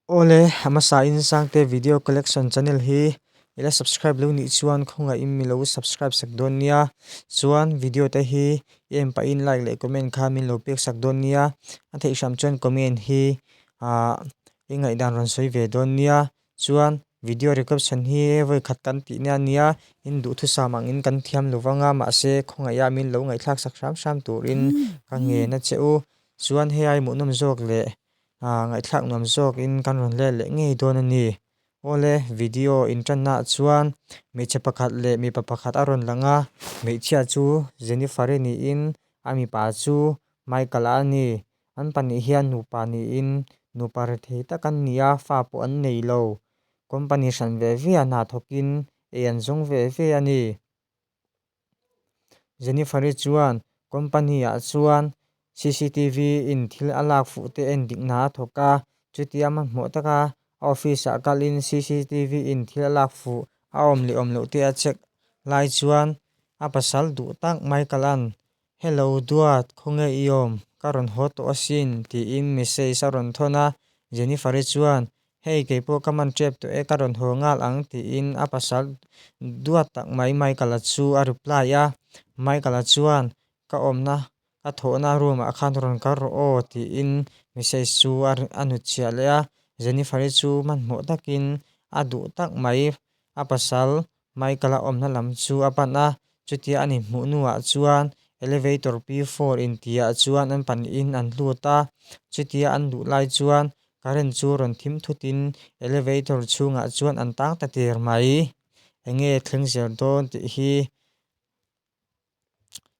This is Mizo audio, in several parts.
Awle, a hmasa in Sangte Video Collection channel hi i la subscribe lo nih chuan khawngah in mi lo subscribe sak dawn nia. Chuan video te hi i en pahin like leh comment kha min lo pek sak dawn nia. A theih hram chuan comment hi i ngaihdan rawn sawi ve dawn nia. Chuan video recoption hi vawi khat kan tih nia nia in duhthusam ang in kan thiam lo vang a mahse khawngaih ah min lo ngaihthlak sak hram hram turin ka ngen a che u. Chuan hei a i muhnawm zawk leh. Ngaihthlak nuam zawk in kan rawn leh leh ngei dawn a ni. Awle, video in tanna ah chuan hmeichhe pakhat leh mipa pakhat a rawn lang a, hmeichhia chu Jennifer i niin a mipa chu Michael a ni. An pahnih hian nupa niin nupa re thei tak an ni a, fa pawh an nei lo. Company hran ve ve a hna thawk in ei an zawng ve ve a ni. Jennifer-i chuan company-ah chuan CCTV in thil a lak fuh te en dikna a thawk a, chutiang hmanhmawh taka a office-ah kalhin CCTV in thil a lak fuh a awm leh awm loh te a check lai chuan a pasal duh tak Michael-a'n Hello Duat, khawnge i awm? Ka rawn haw tawh asin, tiin message a rawn thawn a, Jennifer-i chuan, Hei, kei pawh ka man ṭep tawh e, ka rawn haw nghal ang, tiin a pasal duat tak mai Michael-a chu a reply a. Michael-a chuan, Ka awmna, ka thawhna room-ah khan rawn kal rawh aw, tiin message chu a nut chhiah leh a, Jennifer-i chu hmanhmawh takin a duh tak mai a pasal Michael-a awmna lam chu a pan a, chutia a ni hmuh hnuah chuan elevator P four in tihah chuan an pahnihin an hlut a, chutia an luh lai chuan current chu rawn thim thutin elevator chhungah chuan an tang ta tir mai. Enge thleng zel dawn tih hi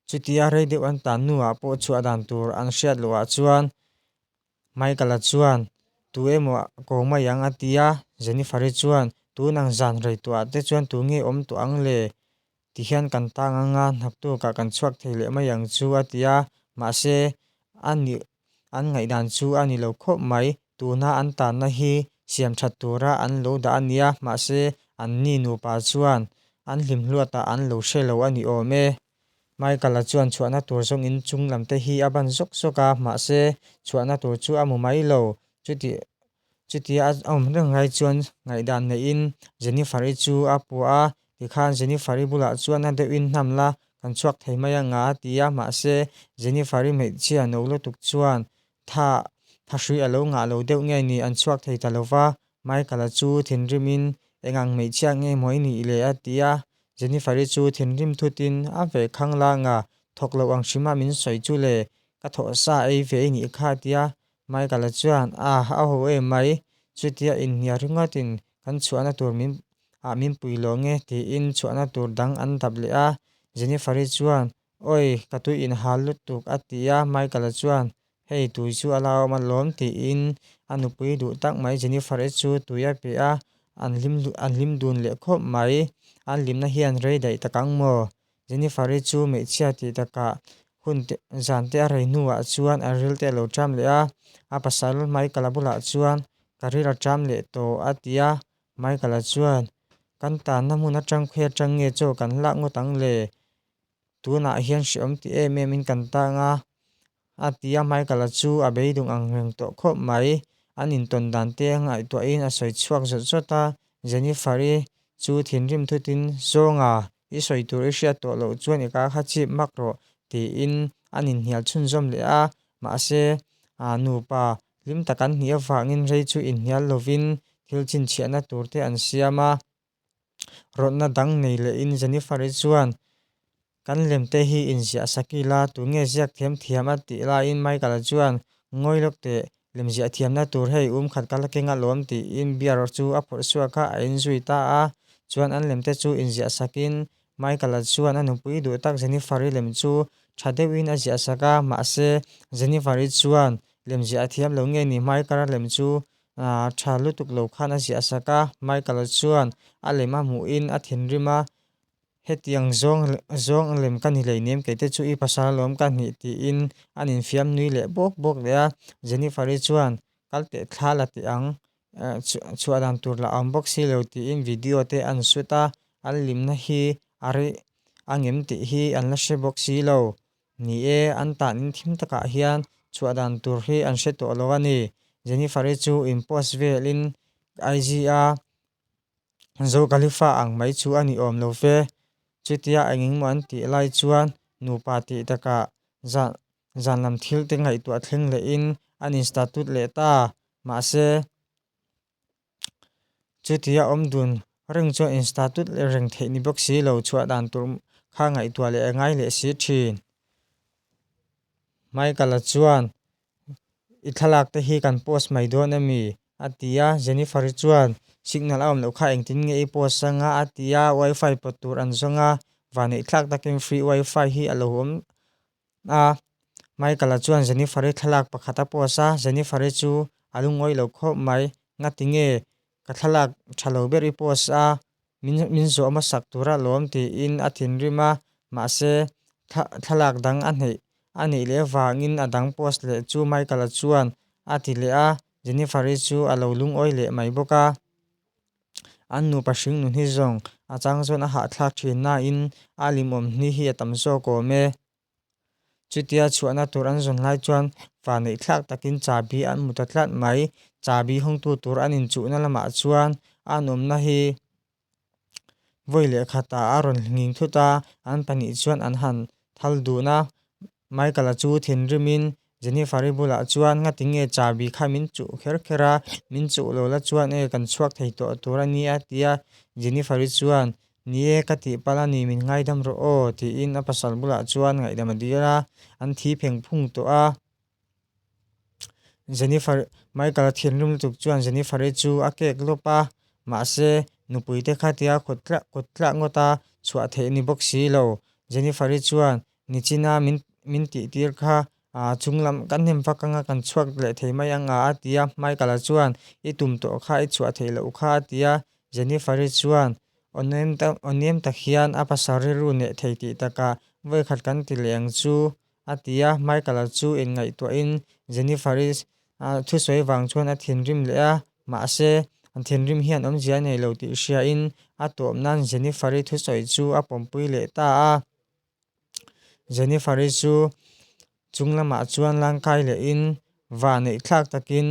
Chutia rei deuh an tan nuah pawh chhuah dan tur an hriat loh ah chuan Michael-a chuan, Tu emaw kawng mai ang a ti a, Jennifer-i chuan, Tun ang zan reihtawh ah te chuan tu nge awm tawh ang le? Ti hian kan tang anga hnaktukah kan chhuak thei leh mai ang chu a ti a, mahse a nih an ngaihdan chu a ni lo khawp mai. Tuna an tanna hi siam that tura an lo dah a nia, mahse an ni nupa chuan an hlimhluatah an lo hre lo a ni awm e. Michael-a chuan chhuahna tur zawng in chung lamte hi a ban zawk zawk a, mahse chhuahna tur chu a mu mai lo. Chutih Chutia a awm reng lai chuan ngaihdan neihin Jennifer-i chu a puah a, tikhan Jennifer-i bulah chuan a deuhin hnam la, kan chhuak thei mai ang a a ti a, mahse Jennifer-i hmeichhia no lutuk chuan tha tha hrui a lo ngah lo deuh nge ni, an chhuak thei ta lova, Michael-a chu thinrimin eng ang hmeichhia nge maw i nih le a ti a, Jennifer-i chu thinrim thutin a ve khang la nga, thawk loh ang hrim a min sawi chu le, ka thawh sa ei ve i nih kha a ti a, Michael-a chuan, Ah, a ho em mai. Chutia inhniah ringawtin kan chhuahna tur min ah min pui lawh nge, tiin chhuahna tur dang an dap leh a. Jennifer-i chuan, Awi, ka tui inhal lutuk, a ti a. Michael-a chuan, Hei, tui chu a la awm alawm, tiin a nupui duh tak mai. Jennifer-i chu tui a pe a, an hlim an hlim dun leh khawp mai. An hlimna hian rei daih tak ang maw? Jennifer-i chu hmeichhia tih takah hun te zan te a rei hnuah chuan a ril te a lo ṭam leh a. A pasal Michael-a bulah chuan, Ka ril a ṭam leh tawh, a ti a. Michael-a chuan, Kan tanna hmun a ṭangkhui aṭang nge chaw kan lak ngawt ang le? Tunah hian hreawm tih em em in kan tang a, A ti a, Michael-a chu a beidung ang reng tawh khawp mai. An intawn dan te ngaihtuahin a sawi chhuak zawt zawt a. Jennifer-i chu thinrim thutin, Zawnga, i sawi tur i hriat tawh loh chuan i kar kha chip mak rawh, tiin an inhnial chhunzawm leh a. Mahse, a nupa hlim tak an hnih avangin rei chu inhnial lovin thil chinchhiahna tur te an siam a. Rawtna dang nei lehin Jennifer-i chuan, Kan lem te hi inziah sak ila, tun nge ziak thiam thiam? a tih laiin Michael-a chuan, Ngawi lawk teh, lemziah thiamna tur hei um khat ka la keng alawm tiin beer chu a phurh suah kha a inzui ta a. Chuan an lem te chu inziah sakin Michael-a chuan a nupui duh tak Jennifer-i lem chu tha deuhin a ziah sak a, mahse, Jennifer-i chuan, Lemziah a thiam lo nge ni Michael-a lem chu A tha lutuk lo khan a ziah sak a, Michael-a chuan a lem a hmuh in a thinrim a, Hetiang zawng zawng lem ka ni lei nem kei te chu i pasal alawm ka hnih tiin an infiam nui leh bawk bawk leh a, Jennifer-i chuan kal teh thla la teh ang eh, chhuah dan tur la awm bawk si lo tiin video te an shoot a, an limna hi a rih angem tih hi an la hre bawk si lo. Ni e, an tahnin thim takah hian chhuah dan tur hi an hre tawh lo a ni. Jennifer-i chu inpost velin IG-a Zo Khalifa ang mai chu a ni awm lo fe. Chutia engengmaw an tih lai chuan nupa tih takah zan zanlam thilte ngaihtuah thleng lehin an insta tut leh ta. Mahse, Chuti a awm dun reng chuan insta tut leh reng theih ni bawk si lo, chhuah dan tur kha ngaihtuah leh a ngai leh si thin. Michaela chuan, I thlalakte hi kan post mai dawn a mi? a ti a, Jennifer hi chuan, Signal a awm loh kha engtin nge i post anga? a ti a, Wifi pawt tur an zawng a, vanei thlak takin free wifi hi a lo awm a, Michael-a chuan Jennifer-i thlalak pakhat a post a, Jennifer-i chu a lu ngawi lo khawp mai, Nga tinge ka thlalak tha lo ber i post a, min min zawh hmasak tur a lawm tiin a thinrim a, mahse thla thlalak dang a hneih a nih leh vangin a dang post leh chu Michael-a chuan a ti leh a, Jennifer-i chu a lo lungawi leh mai bawk a. An nupa hring nun hi zawng a chang zawn a hahthlak thin nain a limawm hni hi a tam zawk awm e. Chutia chhuahna tur an zawn hlai chuan fa neihthlak takin chabi an mu ta tlat mai. Chabi hawngtu tur an inchuhna lamah chuan an awmna hi vawi leh khatah a rawn nghing thut a, an pahnih chuan an han thal dun a. Michael-a chu thinrimin Jennifer-i bulah chuan ngatin nge chabi kha min chuh kher kher a, min chuh lo la chuan e kan chhuak thei tawh tur a nia ti a, Jennifer-i chuan Ni e, ka tih pal a ni min ngaidam rawh aw tiin a pasal bulah chuan ngaihdam a dil a, an thi pheng phung tawh a. Jennifer, Michael-a thinrim lutuk chuan Jennifer-i chu a kek lawp a, mahse, nupui te kha tia kut tlah kut tlah ngawt a chhuah theih ni bawk si lo. Jennifer-i chuan, Nichina min min tihtir kha ah chung lam ka hnem vak anga kan chhuak leh thei mai ang a a ti a, Michael-a chuan, I tum tawh kha i chhuah theih loh kha a ti a, Jennifer-i chuan, Awnem tak awnem tak hian a pasal rilru neh thei tih takah vawikhat kan ti leh ang chu a ti a. Michael-a chu en ngaihtuahin Jennifer-i thusawi vang chuan a thinrim leh a. Mahse, thinrim hian awmzia nei lo tih hriain a tuam nan Jennifer-i thusawi chu a pawmpui leh ta a. Jennifer-i chu chung lamah chuan langkai lehin va neih thlak takin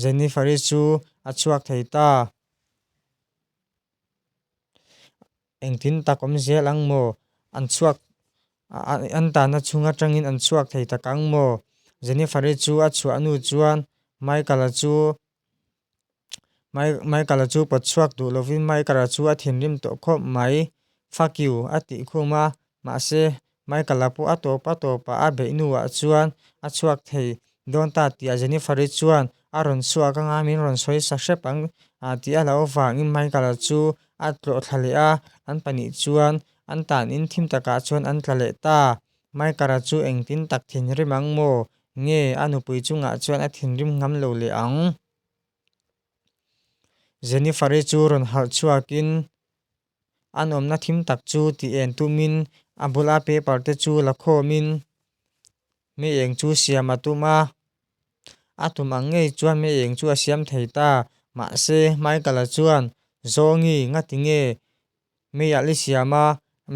Jennifer-i chu a chhuak thei ta. Engtin tak awm zel ang maw? An chhuak an tan achhung atangin an chhuak thei tak ang maw? Jennifer-i chu a chhuahnu chuan Michael-a chu Michael-a chu pawt chhuak duh lovin Michael-a chu a thinrim tawh khawp mai. Fuck you, a tih khum a, Mahse, Michael-a pawh a tawp a tawp a, a beih hnuah chuan a chhuak thei dawn ta tih a Jennifer-i chuan a rawn chhuak anga min rawn sawi sa hrep ang a tih a lo vangin Michael-a chu a tlawhthla leh a, an pahnih chuan an tan in thim takah chuan an tla leh ta. Michael-a chu engtin tak thinrim ang maw? Nge a nupui chungah chuan a thinrim ngam lo leh ang? Jennifer-i chu rawn harh chhuakin. an awmna thim tak chu ti en tumin a bula paper te chu la khawmin Hme Eng chu siam a tum a. A tum ang ngei chuan Hme Eng chu a siam thei ta, mahse Michael-a chuan, Zawngi, ngati nge Hmeial i siam a,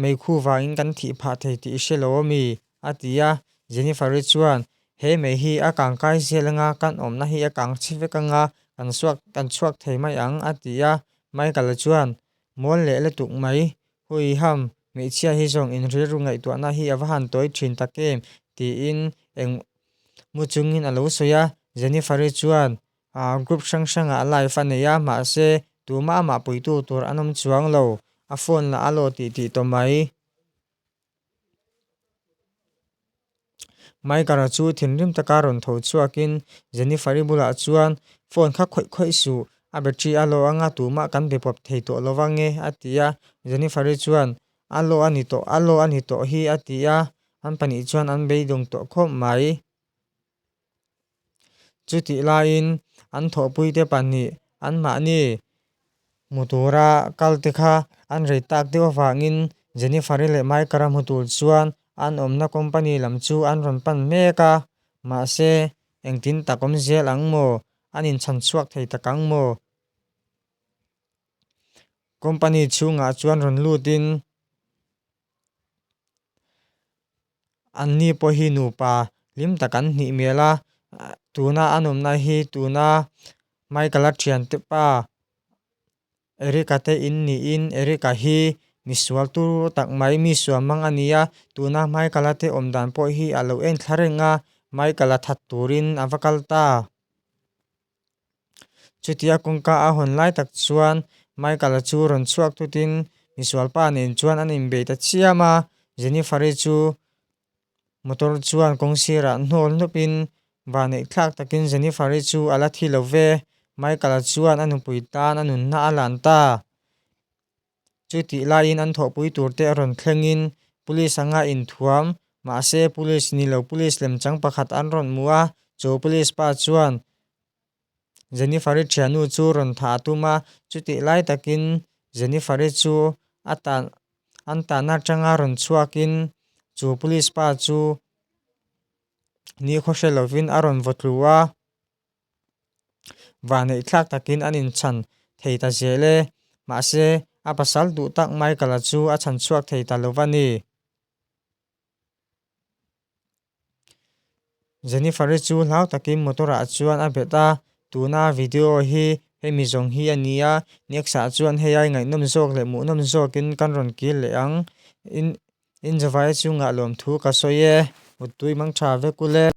mei khu vangin kan thih phah thei tih i hre lo aw mi? A ti a, Jennifer-i chuan, He mei hi a kang kai zel anga kan awmna hi a kang chhi vek anga kan suak kan chhuak thei mai ang, a ti a. Michael-a chuan, Mual leh lutuk mai, Hui Ham, hmeichhia hi zawng inrilru ngaihtuahna hi a va han tawi thin tak em? tiin eng mu chungin a lo sawi a. Jennifer-i chuan, Aah, group hrang hrangah a live a nei a, mahse, tumah a mahpuitu tur an awm chuang lo, a phone-lah a lo tih tih tawh mai. Maikara chu thinrim taka rawn tho chhuakin Jennifer-i bulah chuan phone kha khawih khawih suh, a battery a low anga tumah kan be pawp thei tawh lo vang e a ti a. Jennifer-i chuan, A low a ni tawh, a low a ni tawh hi a ti a, an pahnih chuan an beidawng tawh khawp mai. Chutih laiin an thawhpuite pahnih anmahni hmu tura kal te kha an rei tak deuh avangin Jennifer-i leh Mike-ara hmu tur chuan an awmna company lam chu an rawn pan mek a. Mahse, engtin tak awm zel ang maw? An inchhan chhuak thei tak ang maw? Company chhungah chuan rawn lutin An ni pawh hi nupa hlim tak an hnih hmel a, tuna an awmna hi tuna Michael a thiante pa Erica te in niin Erica hi misual tur tak mai, misual mang a ni a, tuna Michael a te awm dan pawh hi a lo en thla reng a, Michael a that turin a va kal ta. Chutia kawngka a hawn lai tak chuan Michael-a chu rawn chhuak thutin misualpa nen chuan an inbeih ta chiam a. Jennifer-i chu motor chuan kawng sirah hnawl hnupin vahneih thlak takin Jennifer-i chu a la thi lo ve. Michael-a chuan a nupui tan a nunna a lan ta. Chu tih laiin an thawhpui turte a rawn thlengin Police anga inthuam. Mahse, Police ni lo Police lem chang pakhat an rawn mu a, chu Police pa chuan Jennifer-i thiannu chu rawn thah a tum a. Chutih lai takin Jennifer-i chu a tan an tanna atanga rawn chhuakin chu Police pa chu ni khaw hre lovin a rawn vawtlu a. Vaneih thlak takin an inchhan thei ta zel e. Mahse, a pasal duh tak Michael-a chu a chhan chhuak thei ta lo va ni. Jennifer-i chu hlau takin motor-ah chuan a bet a, Tuna video hi hemi zawng hi a ni a, next-ah chuan hei a i ngaihnawm zawk leh muhnawm zawkin kan rawn kîl leh ang. Inzawvai chu ngahlawm thu ka sawi e. Muttui mangṭha vek ule.